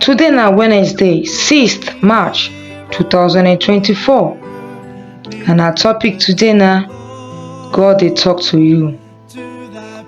Today na Wednesday, 6th March 2024 and our topic today na God dey talk to you.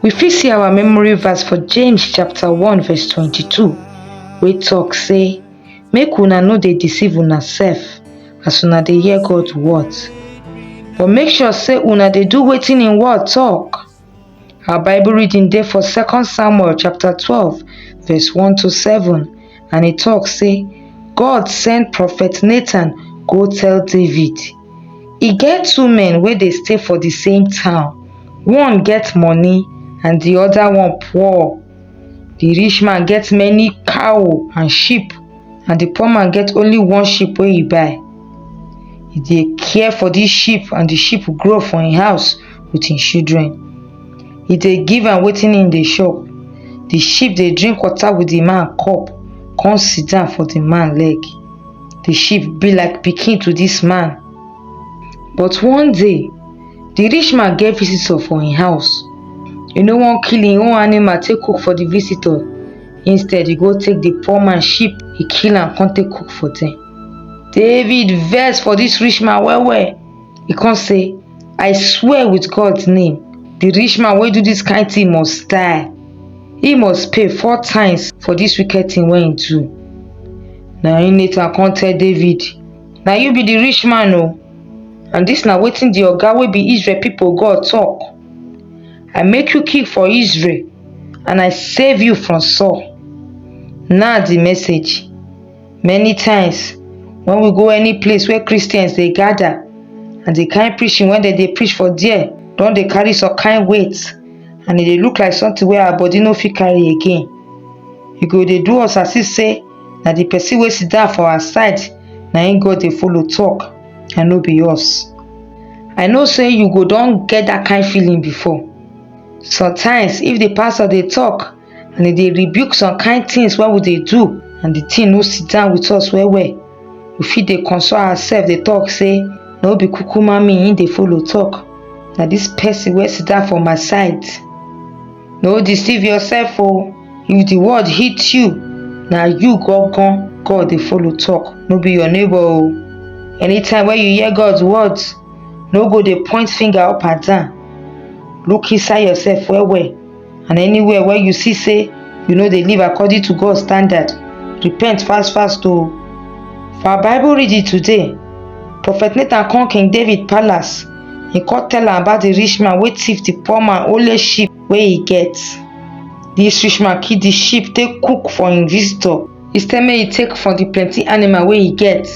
We fit see our memory verse for James chapter 1 verse 22 wey talk say make una no dey deceive una sef as una dey hear God word but make sure say una dey do wetin im word talk. Our Bible reading dey for second Samuel chapter twelve verse one to seven and e talk say God send prophet Nathan go tell David e get two men wey dey stay for the same town one get money and the other one poor The rich man get many cow and sheep and the poor man get only one sheep wey he buy. He dey care for this sheep and the sheep grow for him house with him children. He dey give am wetin him dey chop. The sheep dey drink water with the man cup come sit down for the man leg. The sheep be like pikin to this man. But one day, The rich man get visitor for im house. E no wan kill im own animal take cook for the visitor. Instead, e go take the poor man sheep, e kill am come take cook for them. David vex for this rich man well well. E come say, I swear with God's name, the rich man wey do this kind thing must die. He must pay four times for this wicked thing wey he do. Na im Nathan come tell David, Na you be the rich man o. And dis na wetin di Oga wey be Israel pipo God tok, I make you king for Israel and I save you from Saul. Now di message, many times wen we go any place where Christians dey gada and di kain preaching wey dem dey preach for there don dey carry some kain weight and e dey look like sometin wey our body no fit carry again, you go dey do us as if sey na the person wey sit down for our side na him God dey follow talk and no be us. I know say you go don get that kind feeling before. Sometimes if the pastor dey talk and e dey rebuke some kind things wey we dey do and the thing no sit down with us well well, we fit dey console ourselves dey talk say no be kukuma me him dey follow talk, na this person wey sit down for my side. no deceive yourself o if the word hit you na you gangan god dey follow talk no be your neighbor o anytime wey you hear god's words no go dey point finger up and down look inside yourself well well and anywhere wey you see say you no dey live according to god standard repent fast fast o for our bible reading today prophet nathan come king david palace He come tell am about the rich man wey thief the poor man only sheep wey he get. This rich man keep the sheep take cook for him visitor instead make he take from the plenty animal wey he get.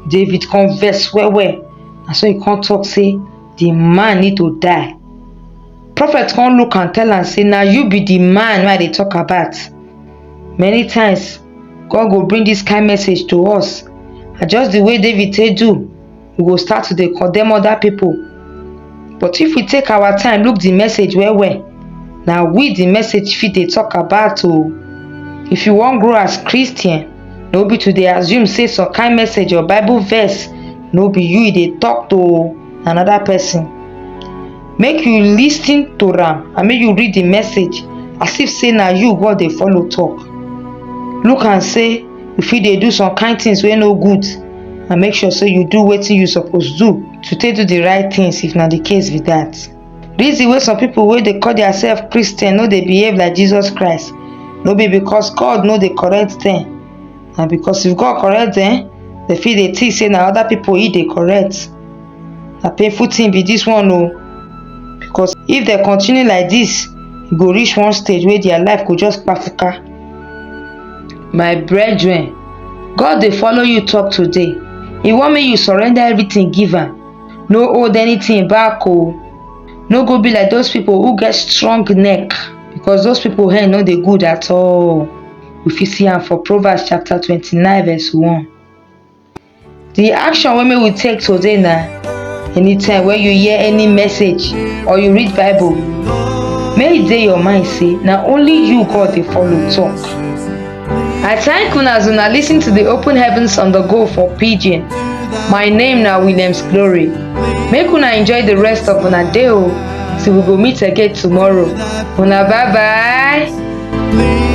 David come vex well well na so he come talk say the man need to die. Prophet come look am tell am say na you be the man wey I dey talk about. Many times God go bring this kind message to us and just the way David take do we go start to dey condemn other people but if we take our time look the message well well na we the message fit dey talk about o if you wan grow as christian no be to dey assume say some kind message or bible verse no be you e dey talk to another person make you lis ten to am and make you read the message as if say na you god dey follow talk look am say you fit dey do some kind things wey no good and make sure say you do wetin you suppose do to take do the right things if na the case be that. Reason wey some people wey dey call theirself Christian no dey behave like Jesus Christ no be because God no dey correct them na because if God correct them they fit dey think say na other people he dey correct na painful thing be this one o because if they continue like this e go reach one stage wey their life go just kpafuka My brethren, God dey follow you talk today. He wan make you surrender everything give am. No hold anything back o. No go be like those people who get strong neck because those people hand no dey good at all. We fit see am for Proverbs chapter twenty-nine verse one. The action wey make we take today na anytime wey you hear any message or you read Bible, make e dey your mind say na only you God dey follow talk. I thank una as una lis ten to the Open Heavens on the Go for Pidgin. My name na Williams Glory. Make una enjoy the rest of una day o till we go meet again tomorrow. Una bye bye.